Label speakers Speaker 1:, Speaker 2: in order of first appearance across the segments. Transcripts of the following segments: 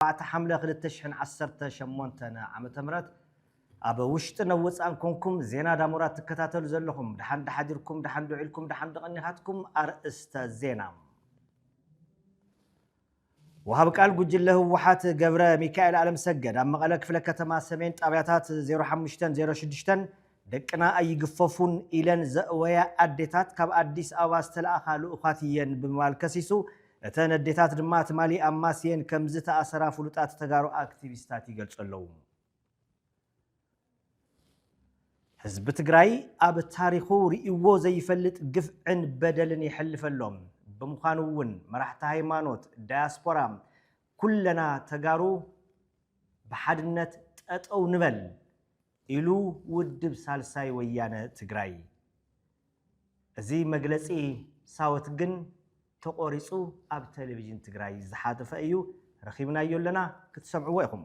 Speaker 1: ኣርባዕተ ሓምለ ክልተ ሽሕን ዓሰርተ ሸሞንተን ዓመተ ምህረት ኣብ ውሽጥን ኣብ ወጻእን ኮንኩም ዜና ዳሞራ ትከታተሉ ዘለኹም ደሓን ዶ ሓዲርኩም ደሓን ዶ ዒልኩም ደሓን ዶ ቀኒኻትኩም ኣርእስተ ዜና ወሃብ ቃል ጉጅለ ህወሓት ገብረ ሚካኤል ኣለምሰገድ ኣብ መቐለ ክፍለ ከተማ ሰሜን ጣብያታት 05ን 06ን ደቅና ኣይግፈፉን ኢለን ዘእወያ ኣዴታት ካብ ኣዲስ ኣበባ ዝተለኣኻ ልኡኻት እየን ብምባል ከሲሱ እተን ኣዴታት ድማ ትማሊ ኣብ ማስየን ከምዝተኣሰራ ፍሉጣት ተጋሩ ኣክቲቪስታት ይገልጹ ኣለዉ። ህዝቢ ትግራይ ኣብ ታሪኹ ርእይዎ ዘይፈልጥ ግፍዕን በደልን የሕልፍ ኣሎ። ብምዃኑ እውን መራሕቲ ሃይማኖት፣ ዳያስፖራ፣ ኩለና ተጋሩ ብሓድነት ጠጠው ንበል። ኢሉ ውድብ ሳልሳይ ወያነ ትግራይ። እዚ መግለጺ ሳወት ግን ተቖሪጹ ኣብ ተለቪዥን ትግራይ ዝሓተፈ እዩ፣ ረኺብናዮ ኣለና ክትሰምዕዎ ኢኹም።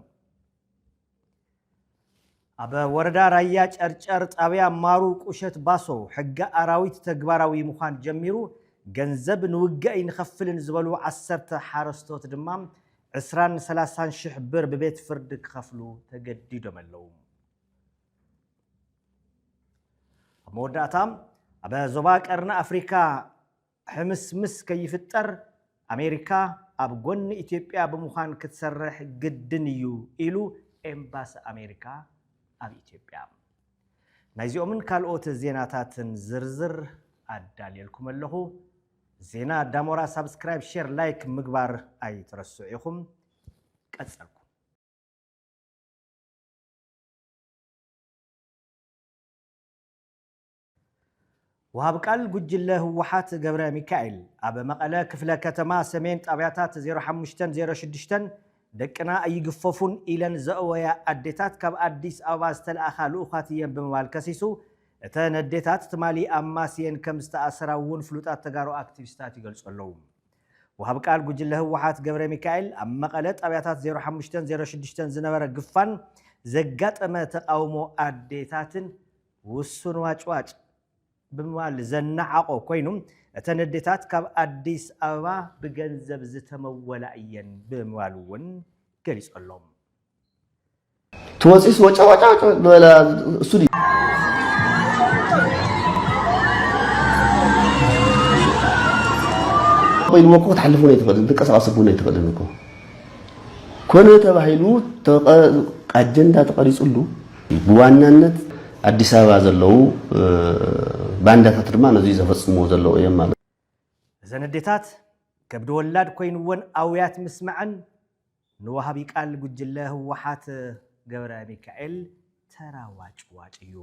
Speaker 1: ኣብ ወረዳ ራያ ጨርጨር ጣብያ ማሩ ቁሸት ባሶ ሕጊ ኣራዊት ተግባራዊ ምዃን ጀሚሩ ገንዘብ ንውገኢ ንኸፍልን ዝበሉ ዓሰርተ ሓረስቶት ድማ ዕስራን ሰላሳን ሽሕ ብር ብቤት ፍርዲ ክኸፍሉ ተገዲዶመለዉ። ኣብ መወዳእታ ኣብ ዞባ ቀርኒ ኣፍሪካ ሕምስምስ ከይፍጠር ኣሜሪካ ኣብ ጎኒ ኢትዮጵያ ብምዃን ክትሰርሕ ግድን እዩ ኢሉ ኤምባሲ ኣሜሪካ ኣብ ኢትዮጵያ። ናይዚኦምን ካልኦት ዜናታትን ዝርዝር ኣዳልየልኩም ኣለኹ። ዜና ዳሞራ ሳብስክራይብ ሼር ላይክ ምግባር ኣይትረስዑ ኢኹም ቀጸልኩ ወሃብ ቃል ጉጅለ ህወሓት ገብረ ሚካኤል ኣብ መቐለ ክፍለ ከተማ ሰሜን ጣብያታት 05ን 06ን ደቅና ኣይግፈፉን ኢለን ዘእወያ ኣዴታት ካብ ኣዲስ ኣበባ ዝተለኣኻ ልኡኻት እየን ብምባል ከሲሱ እተን ኣዴታት ትማሊ ኣብ ማስየን ከም ዝተኣሰራ እውን ፍሉጣት ተጋሩ ኣክቲቪስታት ይገልፁ ኣለው። ወሃቢ ቃል ጉጅለ ህወሓት ገብረሚካኤል ኣብ መቐለ ጣብያታት ዜሮ ሓሙሽተን ዜሮ ሽዱሽተን ዝነበረ ግፋን ዘጋጠመ ተቓውሞ ኣዴታትን ውሱን ዋጭዋጭ ብምባል ዘነዓቖ ኮይኑ እተን ኣዴታት ካብ ኣዲስ ኣበባ ብገንዘብ ዝተመወላ እየን ብምባል እውን ገሊፁ ኣሎ። ትወፅስ
Speaker 2: ወጨወጨወጨ ዝበለ እሱ ድዩ ኮይንዎ እኮ ክትሓልፍ እውን ኣይትኽእልን ትንቀሳቐስ እውን ኣይትኽእልን እኮ ኮነ ተባሂሉ ኣጀንዳ ተቐሪፅሉ ብዋናነት ኣዲስ ኣበባ ዘለዉ ባንዳታት ድማ ነዚ ዘፈፅምዎ ዘለዉ እዮም ማለት እዘን
Speaker 1: ኣዴታት ከብዲ ወላድ ኮይንወን ኣውያት ምስማዐን ንወሃቢ ቃል ጉጅለ ህወሓት ገብረሚካኤል ተራ ዋጭዋጭ እዩ።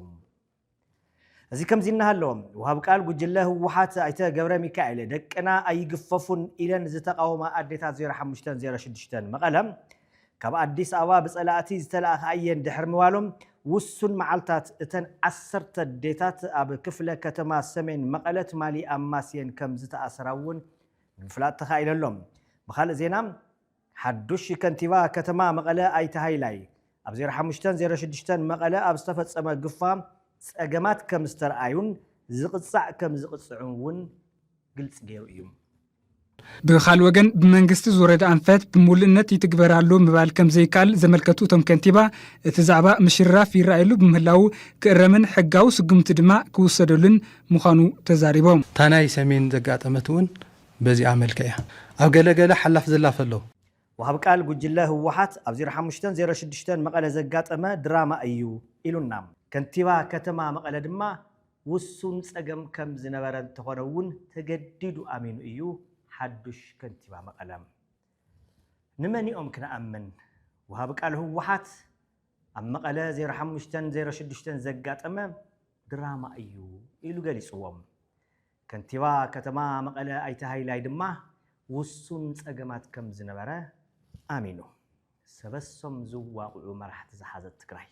Speaker 1: እዚ ከምዚ እናሃሎ ወሃቢ ቃል ጉጅለ ህወሓት ኣይተ ገብረሚካኤል ደቅና ኣይግፈፉን ኢለን ዝተቓወማ ኣዴታት 0506 መቐለ ካብ ኣዲስ ኣበባ ብፀላእቲ ዝተላእኻ እየን ድሕሪ ምባሎም ውሱን መዓልታት እተን ዓሰርተ ኣዴታት ኣብ ክፍለ ከተማ ሰሜን መቐለ ትማሊ ኣማስየን ከም ዝተኣስራ እውን ንምፍላጥ ተኻኢሉ ኣሎ። ብኻልእ ዜና ሓዱሽ ከንቲባ ከተማ መቐለ ኣይተ ሃይላይ፣ ኣብ ዜሮ ሓሙሽተን ዜሮ ሽዱሽተን መቐለ ኣብ ዝተፈፀመ ግፋ ፀገማት ከምዝተርኣዩን ዝቕፃዕ ከምዝቕፅዕን እውን ግልፂ ገይሩ እዩ።
Speaker 3: ብኻል ወገን ብመንግስቲ ዝወረደ ኣንፈት ብምሉእነት ይትግበር ኣሎ ምባል ከምዘይከኣል ዘመልከቱ እቶም ከንቲባ እቲ ዛዕባ ምሽርራፍ ይረኣየሉ ብምህላዉ ክእረምን ሕጋዊ ስጉምቲ ድማ ክውሰደሉን ምዃኑ ተዛሪቦም። እታ ናይ ሰሜን
Speaker 4: ዘጋጠመት እውን በዚኣ መልክዕ እያ ኣብ ገለ ገለ ሓላፍ ዝላፍ ኣሎ። ወሃቢ ቃል
Speaker 1: ጉጅለ ህወሓት ኣብ ዜሮ ሓሙሽተ ዜሮ ሽዱሽተ መቐለ ዘጋጠመ ድራማ እዩ ኢሉና። ከንቲባ ከተማ መቐለ ድማ ውሱን ፀገም ከም ዝነበረ እንተኾነ እውን ተገዲዱ ኣሚኑ እዩ ሓዱሽ ከንቲባ መቐለ። ንመን'ዮም ክንኣምን? ወሃቢ ቃል ህወሓት ኣብ መቐለ ዜሮ ሓሙሽተ ዜሮ ሽዱሽተ ዘጋጠመ ድራማ እዩ ኢሉ ገሊፅዎም። ከንቲባ ከተማ መቐለ ኣይተ ሃይላይ ድማ ውሱን ፀገማት ከም ዝነበረ ኣሚኑ። ሰበሶም ዝዋቕዑ መራሕቲ ዝሓዘት ትግራይ።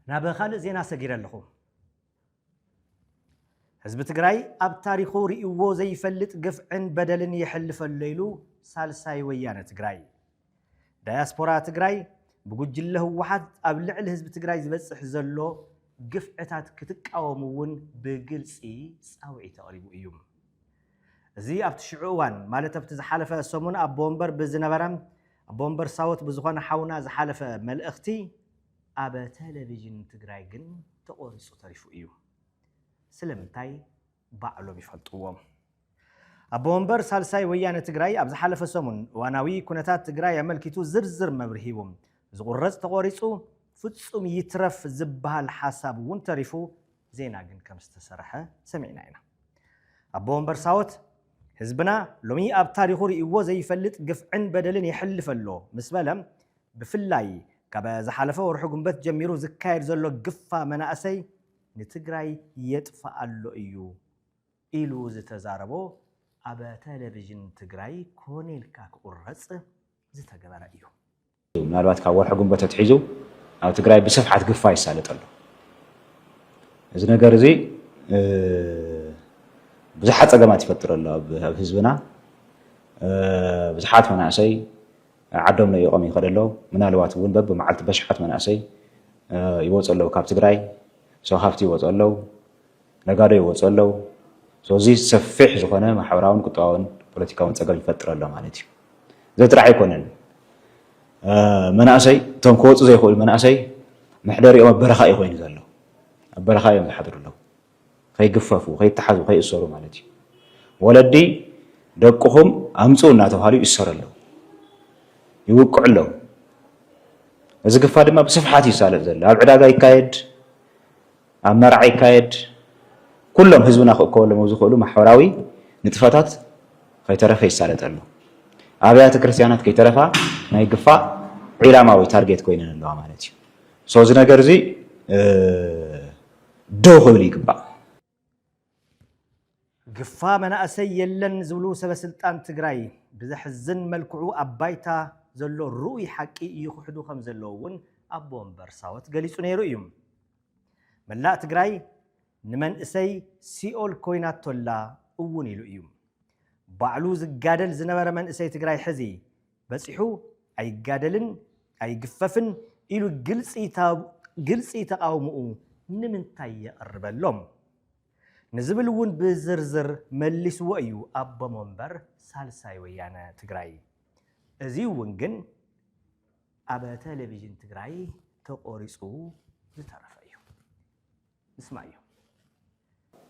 Speaker 1: ናብ ካልእ ዜና ሰጊረ ኣለኹ። ህዝቢ ትግራይ ኣብ ታሪኹ ርእይዎ ዘይፈልጥ ግፍዕን በደልን የሕልፈሎ ኢሉ ሳልሳይ ወያነ ትግራይ። ዳያስፖራ ትግራይ ብጉጅለ ህወሓት ኣብ ልዕሊ ህዝቢ ትግራይ ዝበፅሕ ዘሎ ግፍዕታት ክትቃወሙ እውን ብግልፂ ፃውዒት ኣቕሪቡ እዩ። እዚ ኣብቲ ሽዑ እዋን ማለት ኣብቲ ዝሓለፈ ሰሙን ኣቦ ወንበር ብዝነበረ ኣቦ ወንበር ሳወት ብዝኾነ ሓውና ዝሓለፈ መልእኽቲ ኣብ ቴሌቪዥን ትግራይ ግን ተቖሪፁ ተሪፉ እዩ። ስለምንታይ? ባዕሎም ይፈልጥዎም። ኣቦ ወንበር ሳልሳይ ወያነ ትግራይ ኣብ ዝሓለፈ ሰሙን እዋናዊ ኩነታት ትግራይ ኣመልኪቱ ዝርዝር መብርሂ ሂቡ። ዝቑረፅ ተቖሪፁ ፍፁም ይትረፍ ዝብሃል ሓሳብ እውን ተሪፉ ዜና ግን ከምዝተሰርሐ ሰሚዕና ኢና። ኣቦ ወንበር ሳወት ህዝብና ሎሚ ኣብ ታሪኹ ርእይዎ ዘይፈልጥ ግፍዕን በደልን የሕልፍ ኣሎ ምስ በለ ብፍላይ ካብ ዝሓለፈ ወርሒ ጉንበት ጀሚሩ ዝካየድ ዘሎ ግፋ መናእሰይ ንትግራይ የጥፍእ ኣሎ እዩ ኢሉ ዝተዛረቦ ኣብ ተለቪዥን ትግራይ ኮነ ኢልካ ክቑረፅ ዝተገበረ እዩ። ምናልባት ካብ
Speaker 5: ወርሒ ግንቦት ኣትሒዙ ኣብ ትግራይ ብስፍሓት ግፋ ይሳለጥ ኣሎ። እዚ ነገር እዚ ብዙሓት ፀገማት ይፈጥር ኣሎ ኣብ ህዝብና ብዙሓት መናእሰይ ዓዶም ለኢቖም ይኸዱ ኣለዉ። ምናልባት እውን በብመዓልቲ በሽሓት መናእሰይ ይወፁ ኣለዉ ካብ ትግራይ። ሰው ሃፍቲ ይወፁ ኣለዉ፣ ነጋዶ ይወፁ ኣለዉ። እዚ ሰፊሕ ዝኾነ ማሕበራውን ቁጠባውን ፖለቲካውን ፀገም ይፈጥር ኣሎ ማለት እዩ። እዚ ጥራሕ ኣይኮነን። መናእሰይ እቶም ክወፁ ዘይኽእሉ መናእሰይ መሕደሪኦም ኣብ በረኻ እዩ ኮይኑ ዘሎ። ኣብ በረኻ እዮም ዝሓድሩ ኣለዉ። ከይግፈፉ፣ ከይተሓዙ፣ ከይእሰሩ ማለት እዩ። ወለዲ ደቅኹም ኣምፅኡ እናተብሃሉ ይእሰሩ ኣለዉ፣ ይውቅዑ ኣለዉ። እዚ ግፋ ድማ ብስፍሓት እዩ ዝሳለጥ ዘሎ። ኣብ ዕዳጋ ይካየድ፣ ኣብ መርዓ ይካየድ፣ ኩሎም ህዝብና ክእከበሎም ኣብ ዝኽእሉ ማሕበራዊ ንጥፈታት ከይተረፈ ይሳለጥ ኣሎ። ኣብያተ ክርስቲያናት ከይተረፋ ናይ ግፋ ዒላማዊ ታርጌት ኮይነን ኣለዋ ማለት እዩ። እዚ ነገር እዚ ደው ክብል ይግባእ።
Speaker 1: ግፋ መናእሰይ የለን ዝብሉ ሰበስልጣን ትግራይ ብዘሕዝን መልክዑ ኣብ ባይታ ዘሎ ርኡይ ሓቂ ይኽሕዱ ከምዘለዉ እውን ኣቦ ወንበር ሳወት ገሊፁ ነይሩ እዩ። መላእ ትግራይ ንመንእሰይ ሲኦል ኮይናቶ ኣላ እውን ኢሉ እዩ። ባዕሉ ዝጋደል ዝነበረ መንእሰይ ትግራይ ሕዚ በጺሑ ኣይጋደልን ኣይግፈፍን ኢሉ ግልጺ ተቓውሞኡ ንምንታይ የቕርበሎም? ንዝብል እውን ብዝርዝር መሊስዎ እዩ ኣቦ መንበር ሳልሳይ ወያነ ትግራይ። እዙይ እውን ግን ኣብ ተሌቪዥን ትግራይ ተቖሪፁ ዝተረፈ እዩ። ንስማዮ።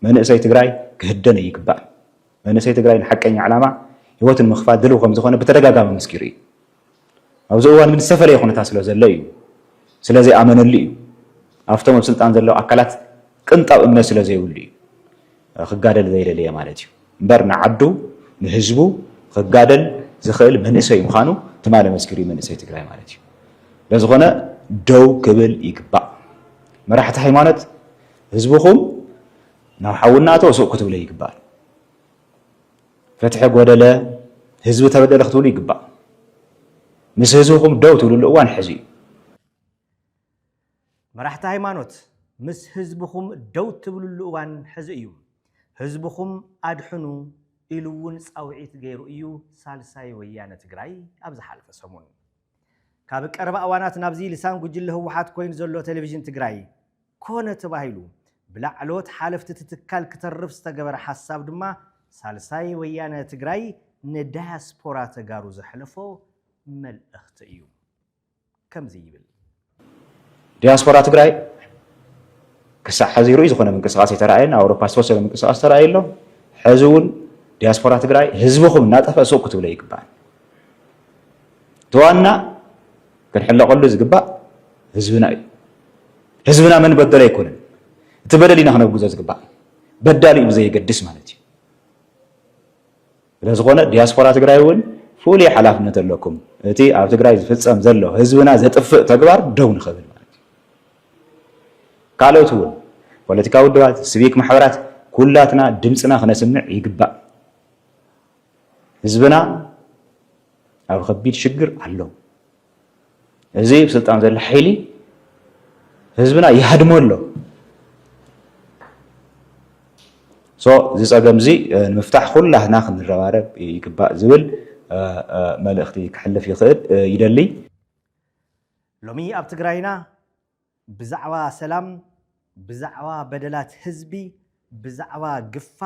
Speaker 5: መንእሰይ ትግራይ ክህደን እይግባእን። መንእሰይ ትግራይ ንሓቀኛ ዕላማ ህይወቱ ንምኽፋል ድልው ከምዝኾነ ብተደጋጋሚ ኣመስኪሩ እዩ። ኣብዚ እዋን ግን ዝተፈለየ ኩነታት ስለዘሎ እዩ። ስለዘይኣመነሉ እዩ። ኣብቶም ኣብ ስልጣን ዘለዉ ኣካላት ቅንጣብ እምነት ስለዘይብሉ እዩ። ክጋደል ዘይደለየ ማለት እዩ እምበር ንዓዱ ንህዝቡ ክጋደል ዝኽእል መንእሰይ ምዃኑ ትማሊ መስኪሩ እዩ መንእሰይ ትግራይ ማለት እዩ ስለዝኾነ ደው ክብል ይግባእ መራሕቲ ሃይማኖት ህዝብኹም ናብ ሓዊ እናእተወ ሱቕ ክትብለ ይግባእ ፍትሒ ጎደለ ህዝቢ ተበደለ ክትብሉ ይግባእ ምስ ህዝብኹም ደው ትብልሉ እዋን ሕዚ እዩ
Speaker 1: መራሕቲ ሃይማኖት ምስ ህዝብኹም ደው ትብልሉ እዋን ሕዚ እዩ። ህዝብኹም ኣድሕኑ ኢሉ እውን ፃውዒት ገይሩ እዩ ሳልሳይ ወያነ ትግራይ ኣብ ዝሓለፈ ሰሙን። ካብ ቀረባ እዋናት ናብዚ ልሳን ጉጅለ ህወሓት ኮይኑ ዘሎ ቴሌቪዥን ትግራይ ኮነ ተባሂሉ ብላዕለዎት ሓለፍቲ እቲ ትካል ክተርፍ ዝተገበረ ሓሳብ ድማ ሳልሳይ ወያነ ትግራይ ንዳያስፖራ ተጋሩ ዘሕለፎ መልእኽቲ እዩ። ከምዚ ይብል።
Speaker 5: ዲያስፖራ ትግራይ ክሳዕ ሕዚ ርኡይ ዝኾነ ምንቅስቓስ ኣይተራእየን። ኣብ ኣውሮፓ ዝተወሰነ ምንቅስቓስ ተራእዩ ኣሎ። ሕዚ እውን ዲያስፖራ ትግራይ ህዝብኹም እናጠፍአ ሱቕ ክትብሎ ኣይግባእን። እቲ ዋና ክንሕለቐሉ ዝግባእ ህዝብና እዩ። ህዝብና መን በደሎ ኣይኮነን እቲ በደል ኢና ክነውግዞ ዝግባእ በዳሊኡ ብዘየገድስ ማለት እዩ። ስለዝኾነ ዲያስፖራ ትግራይ እውን ፍሉይ ሓላፍነት ኣለኩም እቲ ኣብ ትግራይ ዝፍፀም ዘሎ ህዝብና ዘጥፍእ ተግባር ደው ንኽብል ማለት እዩ። ካልኦት እውን ፖለቲካዊ ውድባት፣ ስቪክ ማሕበራት ኩላትና ድምፅና ክነስምዕ ይግባእ። ህዝብና ኣብ ከቢድ ሽግር ኣሎ። እዚ ኣብ ስልጣን ዘሎ ሓይሊ ህዝብና ይሃድሞ ኣሎ እዚ ፀገም እዚ ንምፍታሕ ኩላትና ክንረባረብ ይግባእ ዝብል መልእኽቲ ክሕልፍ ይኽእል ይደሊ
Speaker 1: ሎሚ ኣብ ትግራይና ብዛዕባ ሰላም፣ ብዛዕባ በደላት ህዝቢ፣ ብዛዕባ ግፋ፣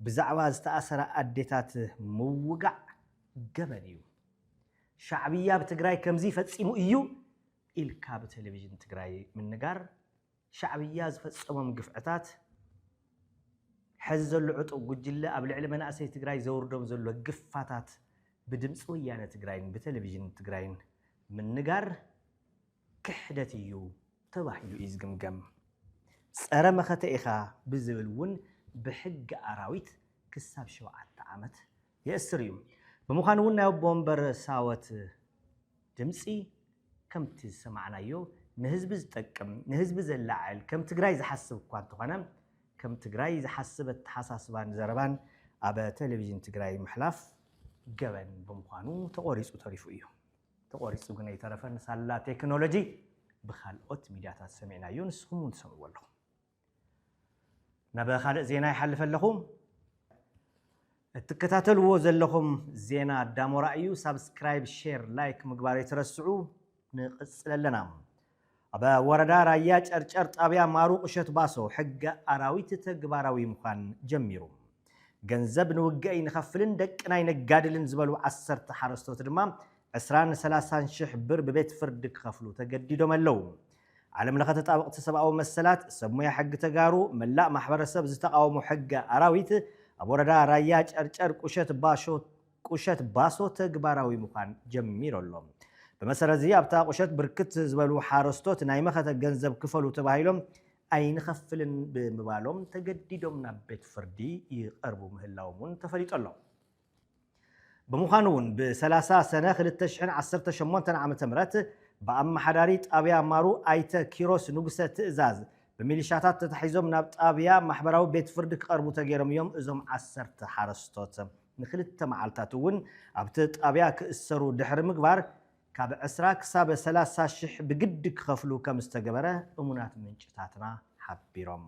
Speaker 1: ብዛዕባ ዝተኣሰራ ኣዴታት ምውጋዕ ገበን እዩ። ሻዕብያ ኣብ ትግራይ ከምዚ ፈፂሙ እዩ ኢልካ ብቴሌቪዥን ትግራይ ምንጋር ሻዕብያ ዝፈፀሞም ግፍዕታት ሐዚ ዘሎ ዕጡቕ ጉጅለ ኣብ ልዕሊ መናእሰይ ትግራይ ዘውርዶም ዘሎ ግፋታት ብድምፂ ወያነ ትግራይን ብቴሌቪዥን ትግራይን ምንጋር ክሕደት እዩ ተባሂሉ እዩ ዝግምገም። ጸረ መኸተ ኢኻ ብዝብል እውን ብሕጊ ኣራዊት ክሳብ ሸውዓተ ዓመት የእስር እዩ። ብምዃኑ እውን ናይ ኣቦ ወንበር ሳወት ድምጺ ከምቲ ዝሰማዕናዮ ንህዝቢ ዝጠቅም፣ ንህዝቢ ዘላዕል፣ ከም ትግራይ ዝሓስብ እኳ እንተኾነ ከም ትግራይ ዝሓስብ ኣተሓሳስባን ዘረባን ኣብ ቴሌቪዥን ትግራይ ምሕላፍ ገበን ብምዃኑ ተቖሪጹ ተሪፉ እዩ። ተቖሪጹ ግን ኣይተረፈን፣ ሳላ ቴክኖሎጂ ብካልኦት ሚድያታት ሰሚዕናዮ፣ ንስኹም እውን ትሰምዕዎ ኣለኹም። ናብ ካልእ ዜና ይሓልፍ ኣለኹ። እትከታተልዎ ዘለኹም ዜና ዳሞራ እዩ። ሳብስክራይብ፣ ሼር፣ ላይክ ምግባር ኣይትረስዑ። ንቕጽል ኣለና። ኣብ ወረዳ ራያ ጨርጨር ጣብያ ማሩ ቁሸት ባሶ ሕገ ኣራዊት ተግባራዊ ምዃን ጀሚሩ። ገንዘብ ንውግእ ኣይንኸፍልን ደቅና ኣይነጋድልን ዝበሉ ዓሰርተ ሓረስቶት ድማ ዕስራን ሰላሳን ሽሕ ብር ብቤት ፍርዲ ክኸፍሉ ተገዲዶም ኣለው። ዓለም ለኸ ተጣበቕቲ ሰብኣዊ መሰላት፣ ሰብ ሙያ ሕጊ ተጋሩ፣ መላእ ማሕበረሰብ ዝተቓወሞ ሕገ ኣራዊት ኣብ ወረዳ ራያ ጨርጨር ቁሸት ባሾ ቁሸት ባሶ ተግባራዊ ምዃን ጀሚሩ ኣሎ። ብመሰረትዚ ኣብታ ቁሸት ብርክት ዝበሉ ሓረስቶት ናይ መኸተ ገንዘብ ክፈሉ ተባሂሎም ኣይንኸፍልን ብምባሎም ተገዲዶም ናብ ቤት ፍርዲ ይቐርቡ ምህላዎም እውን ተፈሊጡ ኣሎ። ብምዃኑ እውን ብ ሰላሳ ሰነ ክልተ ሽሕን ዓሰርተ ሸሞንተን ዓመተ ምህረት ብኣመሓዳሪ ጣብያ ማሩ ኣይተ ኪሮስ ንጉሰ ትእዛዝ ብሚሊሻታት ተታሒዞም ናብ ጣብያ ማሕበራዊ ቤት ፍርዲ ክቐርቡ ተገይሮም እዮም እዞም ዓሰርተ ሓረስቶት። ንክልተ መዓልታት እውን ኣብቲ ጣብያ ክእሰሩ ድሕሪ ምግባር ካብ ዕስራ ክሳብ ሰላሳ ሽሕ ብግዲ ክኸፍሉ ከም ዝተገበረ እሙናት ምንጭታትና ሓቢሮም።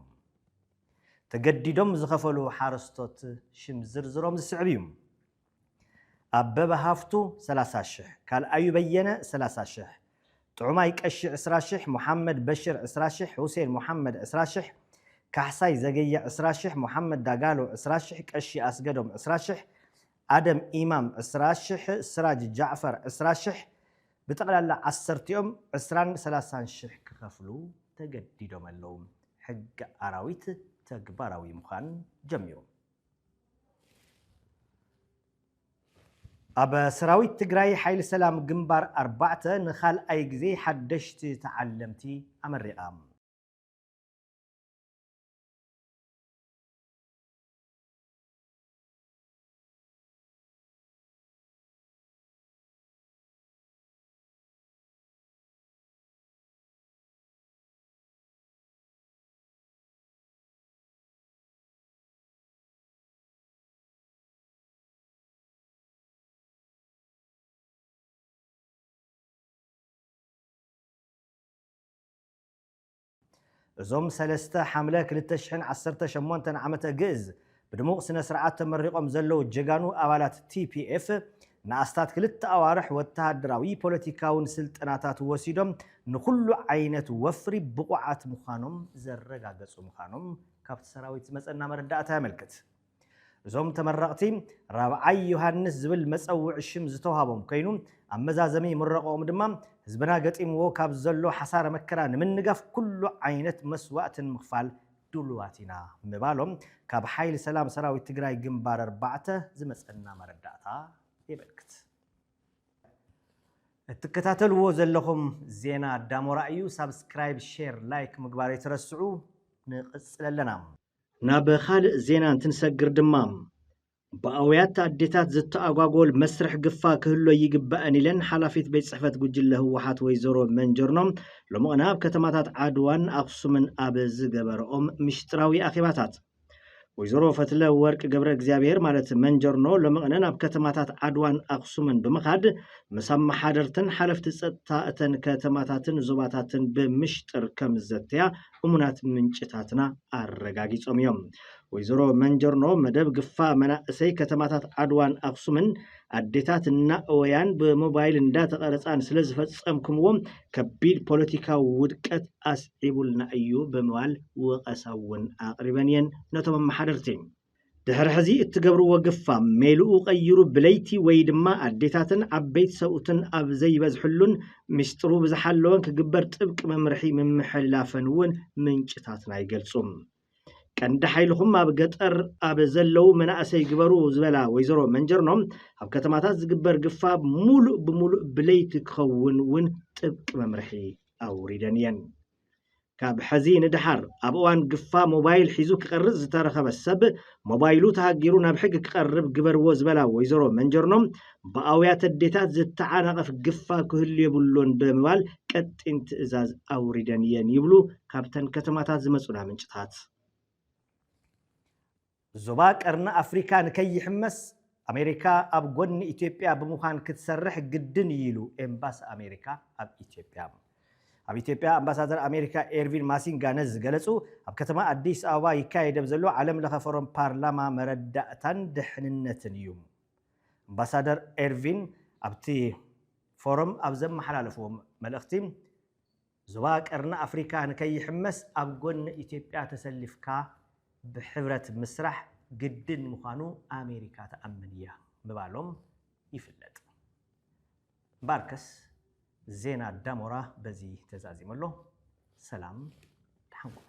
Speaker 1: ተገዲዶም ዝኸፈሉ ሓረስቶት ሽም ዝርዝሮም ዝስዕብ እዩ። ኣበበ ሃፍቱ ሰላሳ ሽሕ፣ ካልኣዩ በየነ ሰላሳ ሽሕ፣ ጥዑማይ ቀሺ ዕስራ ሽሕ፣ ሙሓመድ በሽር ዕስራ ሽሕ፣ ሁሴን ሙሓመድ ዕስራ ሽሕ፣ ካሕሳይ ዘገየ ዕስራ ሽሕ፣ ሙሓመድ ዳጋሎ ዕስራ ሽሕ፣ ቀሺ ኣስገዶም ዕስራ ሽሕ፣ ኣደም ኢማም ዕስራ ሽሕ፣ ስራጅ ጃዕፈር ዕስራ ሽሕ፣ ብጠቕላላ ዓሰርቲኦም ዕስራን ሰላሳን ሽሕ ክኸፍሉ ተገዲዶም ኣለዉ። ሕጊ ኣራዊት ተግባራዊ ምዃን ጀሚሩ። ኣብ ሰራዊት ትግራይ ሓይሊ ሰላም ግንባር ኣርባዕተ ንካልኣይ ግዜ ሓደሽቲ ተዓለምቲ ኣመሪቓ። እዞም ሰለስተ ሓምለ ክልተ ሽሕን ዓሰርተ ሸሞንተን ዓመተ ግእዝ ብድሙቕ ስነ ስርዓት ተመሪቖም ዘለዉ ጀጋኑ ኣባላት TPF ንኣስታት ክልተ ኣዋርሕ ወተሃደራዊ ፖለቲካውን ስልጠናታት ወሲዶም ንኹሉ ዓይነት ወፍሪ ብቑዓት ምዃኖም ዘረጋገጹ ምዃኖም ካብቲ ሰራዊት ዝመጸና መረዳእታ የመልክት። እዞም ተመረቕቲ ራብዓይ ዮሃንስ ዝብል መጸውዒ ሽም ዝተውሃቦም ኮይኑ ኣብ መዛዘሚ ምረቐኦም ድማ ህዝብና ገጢምዎ ካብ ዘሎ ሓሳረ መከራ ንምንጋፍ ኩሉ ዓይነት መስዋእቲ ንምኽፋል ድሉዋት ኢና ምባሎም ካብ ሓይሊ ሰላም ሰራዊት ትግራይ ግንባር ኣርባዕተ ዝመጸና መረዳእታ የመልክት። እትከታተልዎ ዘለኹም ዜና ዳሞራ እዩ። ሳብስክራይብ፣ ሼር፣ ላይክ ምግባር ኣይትረስዑ። ንቕጽል ኣለና። ናብ ኻልእ ዜና እንትንሰግር ድማ፣ ብኣውያት ኣዴታት ዝተኣጓጎል መስርሕ ግፋ ክህሎ ይግባእን ኢለን ሓላፊት ቤት ፅሕፈት ጉጅለ ህወሓት ወይዘሮ መንጀርኖ ሎምቕነ ኣብ ከተማታት ዓድዋን ኣኽሱምን ኣብ ዝገበረኦም ሚሽጥራዊ ኣኼባታት። ወይዘሮ ፈትለወርቅ ገብረእግዚኣብሄር ማለት መንጀርኖ ሎምቕነ ናብ ከተማታት ዓድዋን ኣኽሱምን ብምኻድ ምስ ኣመሓደርትን ሓለፍቲ ፀጥታ እተን ከተማታትን ዞባታትን ብምሽጥር ከምዘተያ እሙናት ምንጭታትና ኣረጋጊጾም እዮም። ወይዘሮ መንጀርኖ መደብ ግፋ መናእሰይ ከተማታት ዓድዋን ኣኽሱምን ኣዴታት እናእወያን ብሞባይል እንዳተቐረፃን ስለ ዝፈፀምክምዎ ከቢድ ፖለቲካዊ ውድቀት ኣስዒቡልና እዩ ብምባል ወቐሳ እውን ኣቕሪበን እየን ነቶም ኣመሓደርቲ። ድሕሪ ሕዚ እትገብርዎ ግፋ ሜልኡ ቀይሩ ብለይቲ ወይ ድማ ኣዴታትን ዓበይቲ ሰብኡትን ኣብ ዘይበዝሕሉን ሚስጥሩ ብዝሓለወን ክግበር ጥብቂ መምርሒ ምምሕልላፈን እውን ምንጭታትና ይገልፁ። ቀንዲ ሓይልኹም ኣብ ገጠር ኣብ ዘለው መናእሰይ ግበሩ ዝበላ ወይዘሮ መንጀርኖ ኣብ ከተማታት ዝግበር ግፋ ሙሉእ ብሙሉእ ብለይቲ ክኸውን እውን ጥብቂ መምርሒ ኣውሪደን እየን። ካብ ሐዚ ንደሓር ኣብ እዋን ግፋ ሞባይል ሒዙ ክቐርፅ ዝተረኸበ ሰብ ሞባይሉ ተሃጊሩ ናብ ሕጊ ክቐርብ ግበርዎ ዝበላ ወይዘሮ መንጀርኖ ብኣውያት ኣዴታት ዝተዓናቐፍ ግፋ ክህሉ የብሉን ብምባል ቀጢን ትእዛዝ ኣውሪደን እየን ይብሉ ካብተን ከተማታት ዝመፁና ምንጭታት። ዞባ ቀርኒ ኣፍሪካ ንከይሕመስ ኣሜሪካ ኣብ ጎኒ ኢትዮጵያ ብምዃን ክትሰርሕ ግድን እዩ ኢሉ ኤምባሲ ኣሜሪካ ኣብ ኢትዮጵያ። ኣብ ኢትዮጵያ ኣምባሳደር ኣሜሪካ ኤርቪን ማሲንጋ ነዚ ዝገለፁ ኣብ ከተማ ኣዲስ ኣበባ ይካየድ ኣብ ዘሎ ዓለም ለኸ ፎረም ፓርላማ መረዳእታን ድሕንነትን እዩ። ኣምባሳደር ኤርቪን ኣብቲ ፎረም ኣብ ዘመሓላለፍዎ መልእኽቲ ዞባ ቀርኒ ኣፍሪካ ንከይሕመስ ኣብ ጎኒ ኢትዮጵያ ተሰሊፍካ ብሕብረት ምስራሕ ግድን ምዃኑ ኣሜሪካ ትኣምን እያ ምባሎም ይፍለጥ። እምበኣርከስ ዜና ዳሞራ በዚ ተዛዚሙ ኣሎ። ሰላም ደሓን ኩኑ።